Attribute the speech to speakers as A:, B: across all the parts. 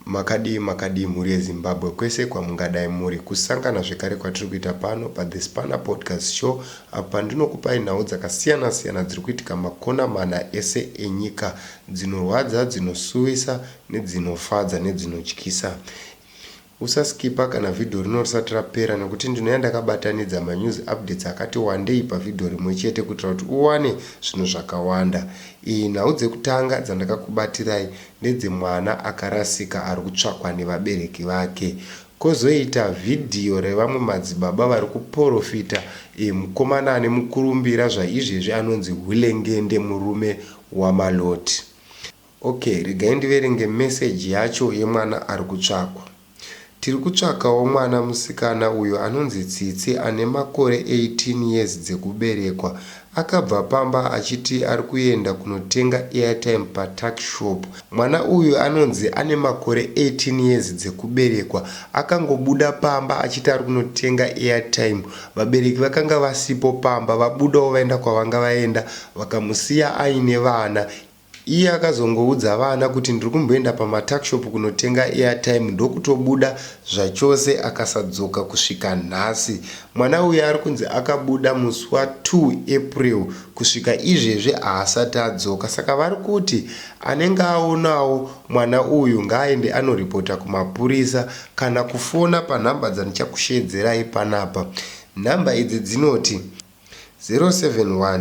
A: makadii makadii mhuri yezimbabwe kwese kwamungadai muri kusangana zvekare kwatiri kuita pano pathe spanner podcast show apo pandinokupai nhau dzakasiyana siyana dziri kuitika makona mana ese enyika dzinorwadza dzinosuwisa nedzinofadza nedzinotyisa Usa skipper kana video rino risati rapera nekuti ndinouya ndakabatanidza ma news updates akati wandei pa video rimwe chete kuitira kuti uwane zvinhu zvakawanda. Iyi nhau dzekutanga dzandakakubatirai ndedze mwana akarasika ari kutsvakwa nevabereki vake. Kozoita video revamwe madzibaba vari kuporofita e mukomana ane mukurumbira zvaizvezvi anonzi Hulengende murume wa Malloti. Ok regai ndiverenge message yacho yemwana ari kutsvakwa. Tiri kutsvakawo mwana musikana uyo anonzi Tsitsi ane makore 18 years dzekuberekwa. Akabva pamba achiti ari kuenda kunotenga airtime patuckshop. Mwana uyu anonzi ane makore 18 years dzekuberekwa. Akangobuda pamba achiti ari kunotenga airtime. Vabereki vakanga vasipo pamba vabudawo vaenda kwavanga vaenda vakamusiya aine vana. Iye akazongoudza vana kuti ndiri kumboenda pamatuckshop kunotenga airtime ndokutobuda zvachose akasadzoka kusvika nhasi. Mwana uyu ari kunzi akabuda musi wa 2 April kusvika izvezvi haasati adzoka saka vari kuti anenge aonawo mwana uyu ngaaende anoripota kumapurisa kana kufona panhamba dzandichakusheedzerai panapa. Nhamba idzi dzinoti 071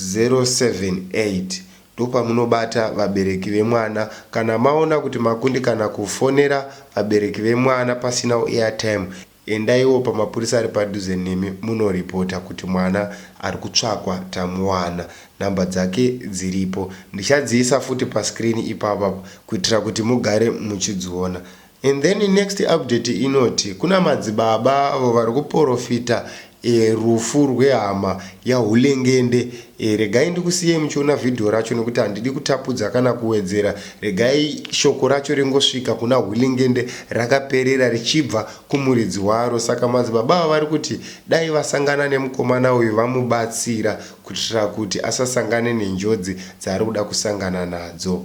A: 078 ndopamunobata vabereki vemwana kana maona kuti makundikana kufonera vabereki vemwana pasina airtime endaiwo pamapurisa ari padhuze nemi munoreporter kuti mwana ari kutsvakwa tamuwana number dzake dziripo ndichadziisa futi pascreen ipapa kuitira kuti mugare muchidziona And then next update inoti kuna madzibaba avo vari kuporofita e, rufu rwehama yaHulengende e, regai ndikusiyei muchiona vhidhiyo racho nekuti handidi kutapudza kana kuwedzera. Regai shoko racho ringosvika kuna Hulengende rakaperera richibva kumuridzi waro. Saka madzibaba ava vari kuti dai vasangana nemukomana uyu vamubatsira kuitira kuti asasangane nenjodzi dzaari kuda kusangana nadzo.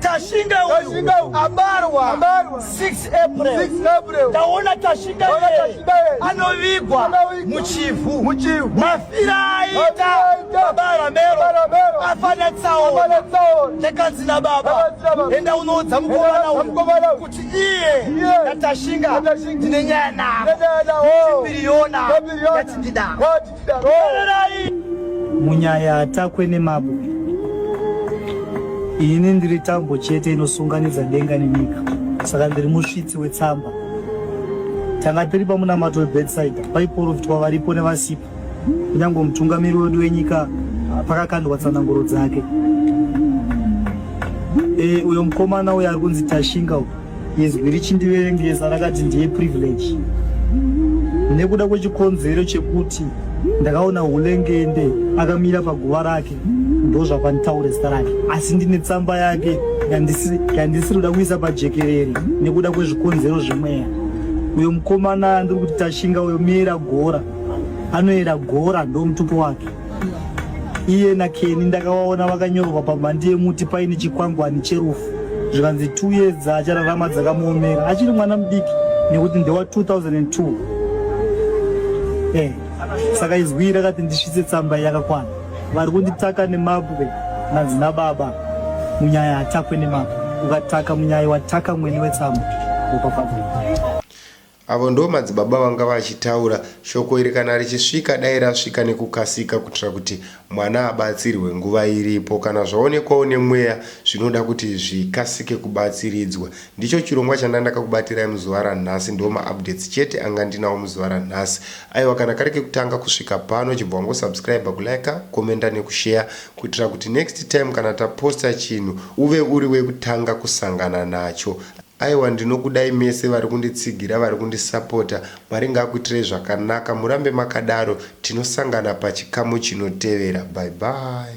B: Tashinga uyu abarwa 6 April. Taona Tashinga iye anovigwa muchivhu. Mafira aita baba Ramero afana tsaona. Takanzi na baba enda unoudza mukomana uyu kuti iye naTashinga ndine nyaya navo. Chipiriyona yatindida.
C: munyaya atakwe nemabwe ini ndiri tambo chete inosunganidza denga nenyika saka ndiri musvitsi wetsamba tanga tiri pamunamato webedside paiporofitwa varipo nevasipo kunyange mutungamiri wedu wenyika pakakandwa tsananguro dzake e, uyo mukomana uyo ari kunzi tashinga uyo izwi richindiverengesa rakati ndiye privilege nekuda kwechikonzero chekuti ndakaona hulengende akamira paguva rake ndozvapanitaure zita rake asi ndine tsamba yake yandisiri kuda kuisa pajekerere nekuda kwezvikonzero zvemweya uyo mukomana ndiri kuti tashinga uyo miera gora anoera gora ndomutupo wake iye nakeni ndakavaona vakanyorwa pamhandi yemuti paine chikwangwani cherufu zvikanzi two years dzaachararama dzakamuomera achiri mwana mudiki nekuti ndewa 2002 eh, saka izwi rakati ndisvitse tsamba yakakwana vari kunditaka nemabwe nanzi nababa munyaya hatakwe nemabwe ukataka munyaya wataka mwene wetsamba upapabuka
A: Avo ndoo madzibaba vanga vachitaura shoko iri kana richisvika dai rasvika nekukasika kutira kuti mwana abatsirwe nguva iripo kana zvaonekwa une mweya zvinoda kuti zvikasike kubatsiridzwa ndicho chirongwa chandandaka kubatirai muzuva ranhasi ndoo maupdates chete anga ndinawo muzuva ranhasi aiwa kana kari kekutanga kusvika pano chibva wango subscribe kulika commenta nekushare kutira kuti next time kana taposta chinhu uve uri wekutanga kusangana nacho Aiwa ndinokudai mese varikunditsigira varikundisapota mwari ngaakuitirei zvakanaka murambe makadaro tinosangana pachikamu chinotevera bye bye.